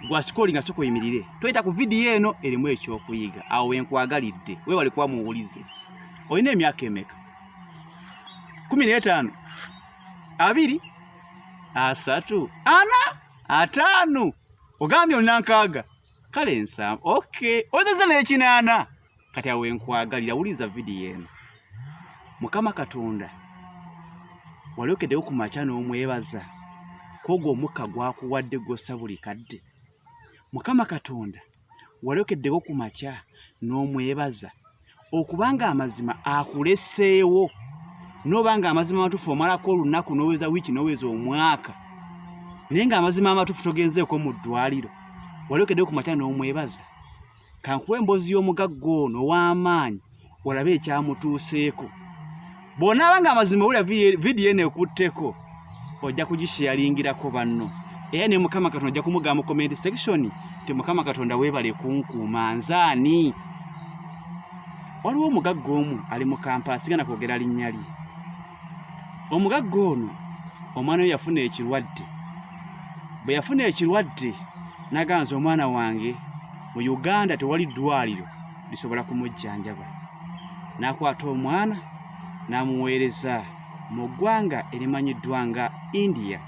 gwasikolinga soka oyimirire toyita ku vidiyo eno erimu ekyokuyiga awo wenkwagalidde webale kuba muwulize olina emyaka emeka kumi n'etaano abiri asatu ana ataano ogambye olina nkaaga kale nsamu ok oyinza nekinaana kati awo enkwagalira wuliza vidiyo eno mukama katonda wali okeddewo ku makya n'omwebaza kwogwo omukka gwakuwadde gwossa buli kadde mukama katonda wali okeddewo ku makya n'omwebaza okubanga amazima akuleseewo noba nga amazima amatufu omalako olunaku noweza wiiki noweza omwaka naye nga amazima amatufu togenzeeko mu ddwaliro wali okeddewo ku makya n'omwebaza kankuwa emboozi y'omugagga ono ow'amaanyi olabe ekyamutuuseeko bw'onaaba nga amazima wulira vidiyo eno ekutteko ojja kugisheyaringirako banno era ne mukama katonda ojja kumugamba mu comment section nti mukama katonda weebale kunkuuma nzaani waliwo omugagga omu ali mu kampala sigana kwogera linnya lye omugagga ono omwana we yafuna ekirwadde bwe yafuna ekirwadde naganza omwana wange mu uganda tewali ddwaliro lisobola kumujjanjaba n'akwata omwana n'amuweereza mu ggwanga erimanyiddwa nga india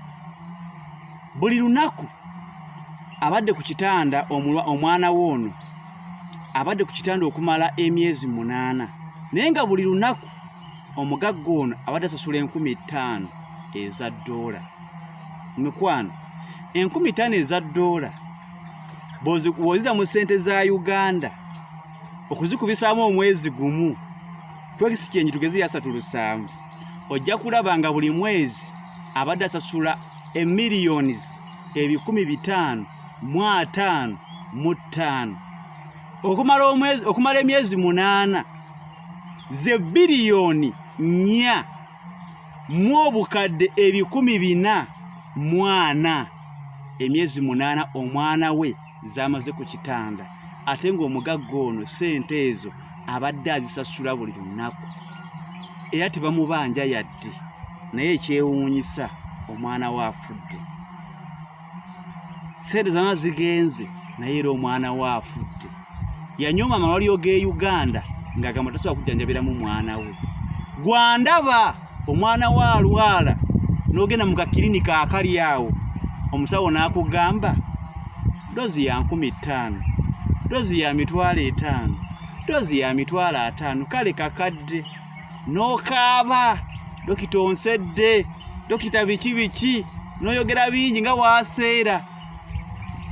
buli lunaku abadde ku kitanda omwana we ono abadde ku kitanda okumala emyezi munaana naye nga buli lunaku omugagga ono abadde asasula enkumi ttaano eza ddoola mikwano enkumi ttaano eza ddoola bwoziza mu ssente za uganda okuzikubisaamu omwezi gumu twekisi kyenyi tugeze yasatu lusanvu ojja kulaba nga buli mwezi abadde asasula emillions ebikumi bitaano mu ataano mu ttaano okumala emyezi munaana ze biliyoni nnya mu obukadde ebikumi bina mwana emyezi munaana omwana we zamaze ku kitanda ate ng'omugagga ono ssente ezo abadde azisasula buli lunaku era tebamubanja yadde naye ekyewuunyisa omwana we afudde sente zana zigenze naye era omwana we afudde yanyooma amalwaliro g'e uganda ng'agamba tasobola kujjanjabiramu mwana we gwandaba omwana we alwala n'ogenda mu kakirinika akali awo omusawo n'akugamba dozi ya nkumi ttaano dozi ya mitwalo etaano dozi ya mitwalo ataano kale kakadde n'okaaba dokita onsedde dokita biki biki n'oyogera bingi nga waaseera